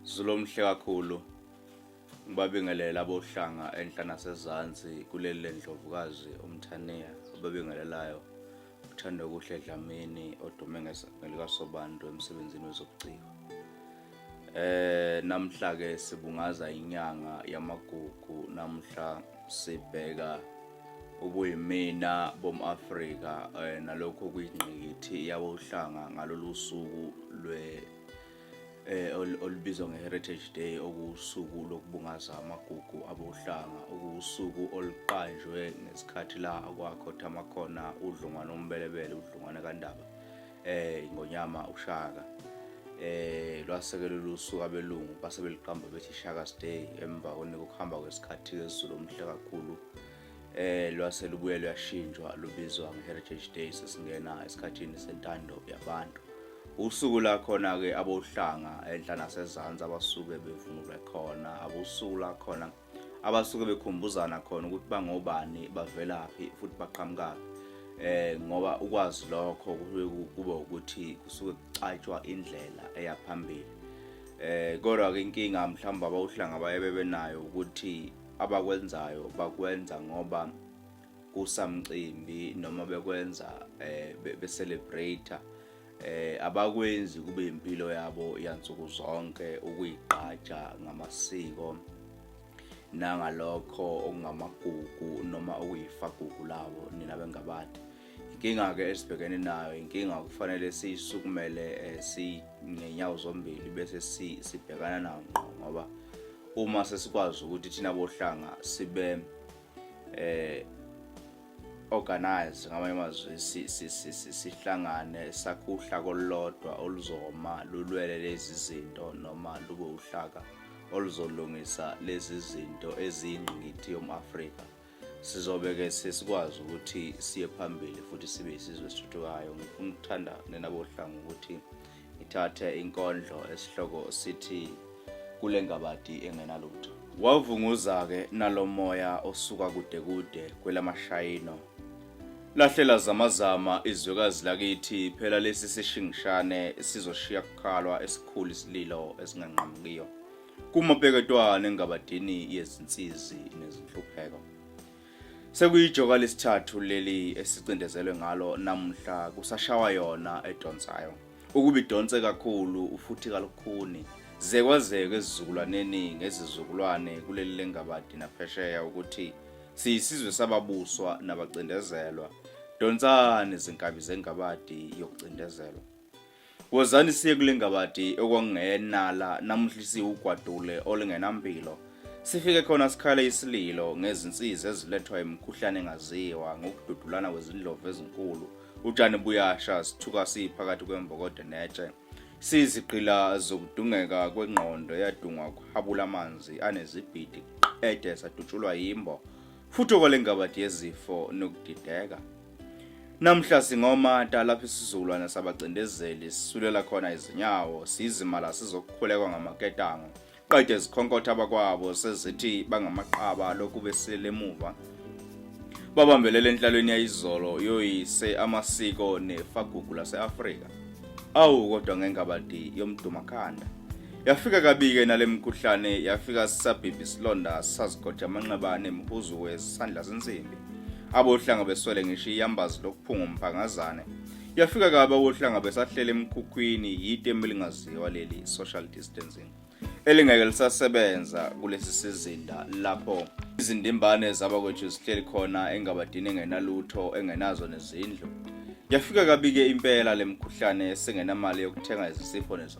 Zulomhle kakhulu ngibabingelela abohlanga enhla nasezansi kuleli lendlovukazi umthaniya obabingelelayo uthanda okuhle dlamini odume ngelikasobantu emsebenzini wezobuciko eh namhla ke sibungaza inyanga yamagugu namhla sibheka ubuyimina bomAfrika eh, nalokho kuyingqikithi yabohlanga ngalolu suku lwe eh olubizwa ngeHeritage Day okuwusuku lokubungaza amagugu abohlanga okuwusuku oluqanjwe ngesikhathi la kwakho thama khona udlungwana ombelebele udlungwana kaNdaba eh ingonyama uShaka eh lwasekela lusuku abelungu base beliqamba bethi Shaka's Day emva kokuhamba kwesikhathi ezulu omhle kakhulu eh lwase lubuye luyashintshwa lubizwa nge-heritage day sesingena esikhathini sentando yabantu usuku la khona-ke abohlanga enhla nasezansi abasuke bevunule khona abosuku la khona abasuke bekhumbuzana khona ukuthi bangobani bavelaphi futhi baqhamukaphi eh ngoba ukwazi lokho kube ukuthi kusuke kucatshwa indlela eya phambili eh kodwa ke inkinga mhlawumbe abawuhlanga baye bebenayo ukuthi abakwenzayo bakwenza ngoba kusamcimbi noma bekwenza eh be celebrate eh abakwenzi kube impilo yabo yansuku zonke ukuyigqaja ngamasiko nangalokho okungamagugu noma okuyifagugu labo nina bengabantu Inkinga-ke esibhekene nayo inkinga okufanele siyisukumele eh, singenyawo zombili bese sibhekana nawo ngqo ngoba uma sesikwazi ukuthi thina bohlanga sibe eh organize ngamanye amazwi sihlangane sakhuhla kolodwa oluzoma lulwele lezi zinto noma lube uhlaka oluzolungisa lezi zinto eziyingqikithi yomAfrika sizobe-ke sesikwazi ukuthi siye phambili futhi sibe yisizwe esithuthukayo ngifuna ukuthanda nenabohlanga ukuthi ngithathe inkondlo esihloko sithi kule ngabadi engenalutho wavunguza-ke nalo moya osuka kude kude kwelamashayino lahlela zamazama izwekazi lakithi phela lesi sishingishane sizoshiya kukhalwa esikhulu isililo esinganqamukiyo kumapeketwane engabadini yezinsizi nezinhlupheko sekuyijoka lesithathu leli esicindezelwe ngalo namuhla kusashawa yona edonsayo ukuba idonse kakhulu ufuthi kalukhuni zekwazeke ezizukulwaneni ngezizukulwane kuleli lengabadi naphesheya ukuthi siyisizwe sababuswa nabacindezelwa donsani izinkabi zengabadi yokucindezelwa Wozani siye kule ngabadi okwangenala namuhla isiwugwadule olingenampilo. Sifike khona sikhala isililo ngezinsizi ezilethwa imikhuhlane engaziwa ngokududulana kwezindlovu ezinkulu. Utshani buyasha sithuka siphakathi kwembokode netshe. Sizigqila zokudungeka kwengqondo yadungwa kuhabula amanzi anezibhidi qede sadutshulwa yimbo futhi okwalengabadi yezifo nokudideka. Namhla singomata lapha isizukulwane sabacindezeli sisulela khona izinyawo sizimala sizokukhulekwa ngamaketango qede zikhonkotha abakwabo sezithi bangamaqaba lokhu besilele emuva babambelele enhlalweni yayizolo yoyise amasiko nefagugu lase-afrika awu kodwa ngengabadi yomdumakhanda Yafika kabike nale mkhuhlane yafika sisabhibhi isilonda sazigoja amanxeba nemhuzu wesandla zinsimbi. Abohlanga beswele ngisho iyambazi lokuphunga umphangazane. Yafika kabi abohlanga besahlele emkhukhwini yitemu elingaziwa leli social distancing elingeke lisasebenza kulesi sizinda lapho izindimbane zabakwethu zihleli khona engabadini engenalutho engenazo nezindlu. Yafika kabike impela le mkhuhlane sengenamali yokuthenga izisipho nezo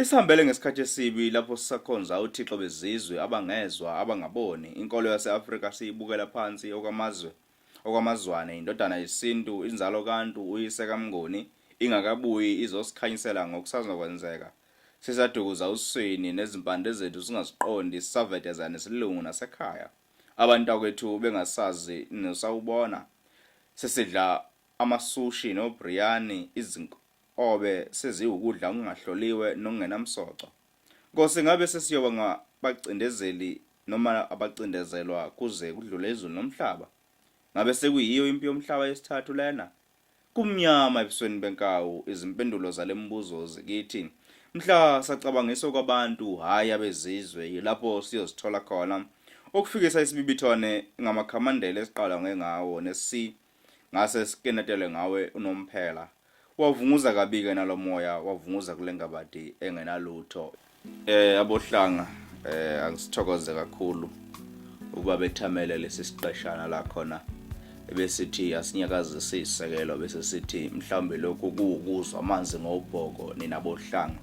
Isihambele ngesikhathi esibi lapho sisakhonza uthixo bezizwe abangezwa abangaboni inkolo yase-Afrika siyibukela phansi okwamazwe okwamazwane indodana yesintu inzalo kantu uyise kamnguni ingakabuyi izosikhanyisela ngokusazokwenzeka sisadukuza uswini nezimpande zethu singaziqondi sisaveteza nesilungu nasekhaya abantu akwethu bengasazi nosawubona sesidla amasushi nobriyani izinko obe seziwukudla okungahloliwe nokungenamsoco. Nkosi, ngabe sesiyoba ngabacindezeli noma abacindezelwa kuze kudlule izulu nomhlaba? Ngabe sekuyiyo impi yomhlaba yesithathu lena? Kumnyama ebusweni benkawu, izimpendulo zale mibuzo zikithi. Mhla sacabangiswa kwabantu, hhayi abezizwe, yilapho siyozithola khona, ukufikisa isibibithwane ngamakhamandela esiqalangwe ngawo nesi ngase sikenetele ngawe unomphela wavunguza kabike nalomoya wavunguza kulengabadi engenalutho eh abohlanga eh angisithokoze kakhulu uba bethamele lesi siqeshana la khona ebesithi asinyakazise isekelo bese sithi mhlawumbe lokhu kuwukuzwa amanzi ngobhoko nina bohlanga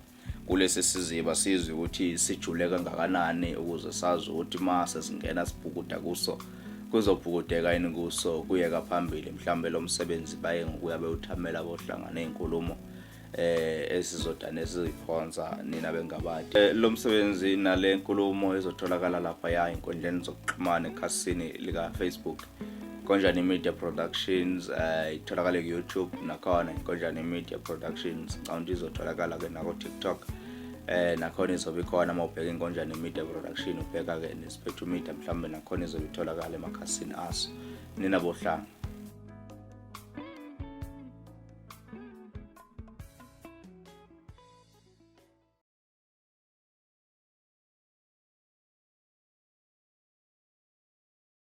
kulesi siziba sizwe ukuthi sijule kangakanani ukuze sazi ukuthi uma sesingena sibhukuda kuso kuzobhukudeka yini kuso kuyeka phambili mhlawumbe lo msebenzi baye ngokuya bewuthamela bohlanga ney'nkulumo eh esizodane esiziphonsa nina bengabadi eh, lo msebenzi nale nkulumo ezotholakala lapha ya inkundleni zokuxhumana ekhasini lika-facebook Konjani Media Productions eh, itholakala uh, ku-YouTube nakhona Konjani Media Productions ngicabanga ukuthi izotholakala ke nako TikTok eh nakhona izobe ikhona uma ubheka inkonjane media production ubheka ke nesiphethu media mhlawumbe nakhona izobe itholakala emakhasini aso nina bohlanga